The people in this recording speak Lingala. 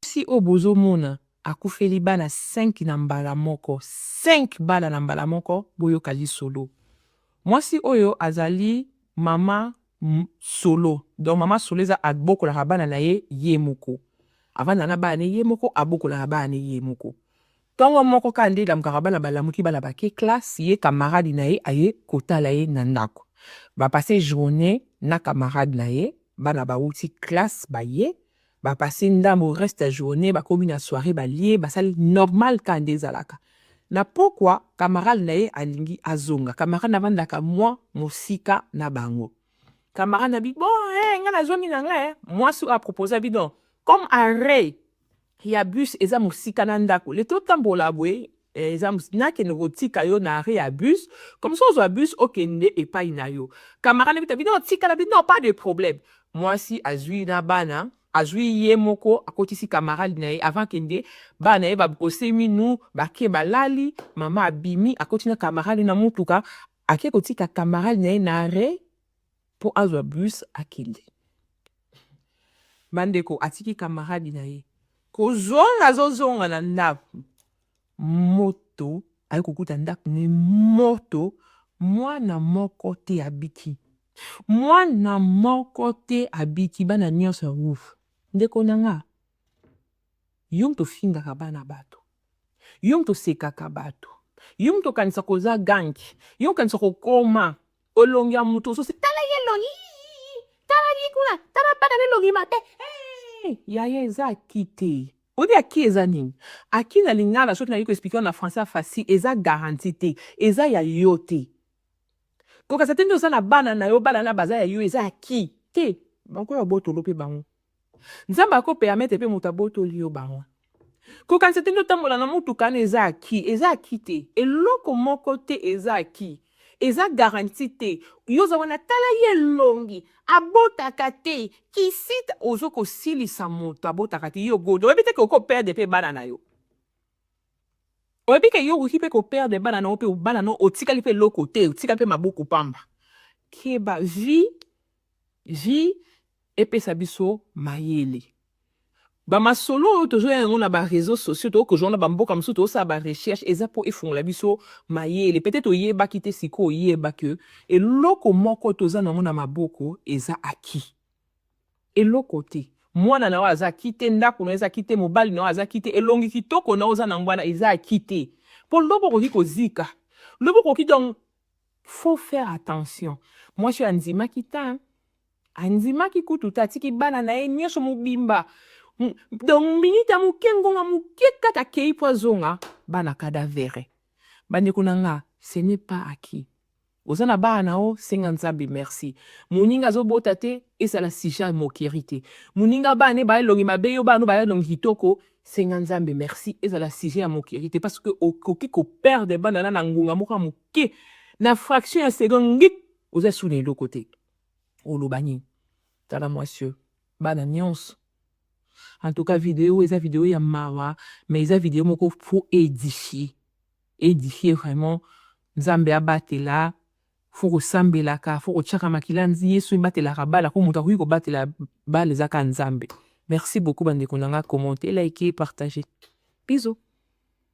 Mwasi oyo bozo mona akufeli bana cinq na mbala moko, cinq bana na mbala moko, boyoka lisolo. Mwasi oyo azali mama solo, donc mama solo eza abokolaka bana na ye ye moko. Avandaka na bana na ye ye moko, abokolaka bana na ye ye moko. Tongo moko kaka nde elamukaka bana balamuki, bana bake classe, ye camarade na ye aye kotala ye na ndako. Ba passer journee na camarade na ye, bana bawuti classe baye, Ba passe ndambu reste ya journee bakomi na soiree balie basali normal ka nde ezalaka na pokua camarade na ye alingi azonga camarade na vandaka mua mosika na bango camarade na bi bon eh nga na zongi na nga eh muasi oyo a proposa bi non comme arret ya bus eza mosika na ndaku le to tambola boye Eh eza mus nakende kotika yo na arret ya bus comme ça ozwa bus okende epai na yo camara na bita bino tikala bino non pas de problème mwasi azwi na bana azwi ye moko akotisi camarade na ye avant akende bana na ye ba brosser minu bake balali mama abimi akoti na camarade na mutuka ake kotika camarade na ye na arret Po azwa bus akende. Bandeko atiki camarade na ye. Kozonga azo zonga na ndaku moto aye kokuta ndaku ne moto mwana moko te abiki. Mwana moko te abiki bana nionso ya wuf. Ndeko na nga yo mutu ofingaka bana batu yo mutu osekaka batu yo mutu okanisaka oza gangi yo okanisaka okoma. Elongi ya mutu osusi tala ye elongi yii tala ye kuna tala bana na elongi mabe eeh yaya eza acquis te oyebi acquis eza nini acquis na lingala soki nayebi ko explique yo na français ya facile eza garantie te eza ya yo te kokasa te nde oza na bana na yo bana na baza ya yo eza acquis te bakoya botolo pe bango Nzambe ako permettre pe mutu abotoli yo bango. Kokanisa te nde otambola na mutuka wana eza acquis, eza acquis te. Eloko moko te eza acquis. Eza garantie te. Yo oza wana tala ye elongi, abotaka te, kisita, ozo kosilisa mutu abotaka te, yo gode, oyebi te ke okoki ko perdre pe bana na yo? Oyebi ke yo okoki pe ko perdre bana na yo pe bana na yo otikali pe eloko te, otikali pe maboko pamba. Keba, vie Vie epesa biso mayele. Ba masolo oyo tozoya yango na ba reseaux sociaux, tokoki kozua na ba mboka mosusu, tokosala ba recherches, eza mpo efungola biso mayele. Peut-etre oyebaki te, sikoyo oyeba que eloko moko toza na yango na maboko eza acquis. Eloko te. Mwana na yo aza acquis te, ndako na yo eza acquis te, mobali na yo aza acquis te, elongi kitoko na yo oza na yango wana eza acquis te. Mpo lobi okoki kozika. Lobi okoki donc. Faut faire attention mwasi oyo andimaki tein andimaki kutu te atiki bana na ye nioso mobimba donc minute ya moke ngonga moke kaka akei po azonga bana cadavere bandeko na nga ce n'est pas acquis oza na bana na yo senga nzambe merci moninga azobota te ezala sujet ya moquerie te moninga bana ne baye elongi mabe yo bana no baye elongi kitoko Senga Nzambe merci ezala sujet ya moquerie te parce que okoki ko perdre bana na na ngonga moko ya moke na fraction ya seconde ngik oza sous na eloko te oloba nini tala mwasi oyo bana nyonso en tout cas video eza video ya mawa mais eza video moko fo edifie edifie vraiment nzambe abatela faut kosambelaka faut kotiaka makila nzi yesu ebatelaka bala po moto akoki kobatela bala eza kaka nzambe merci beaucoup bandeko na nga commente like partage bisous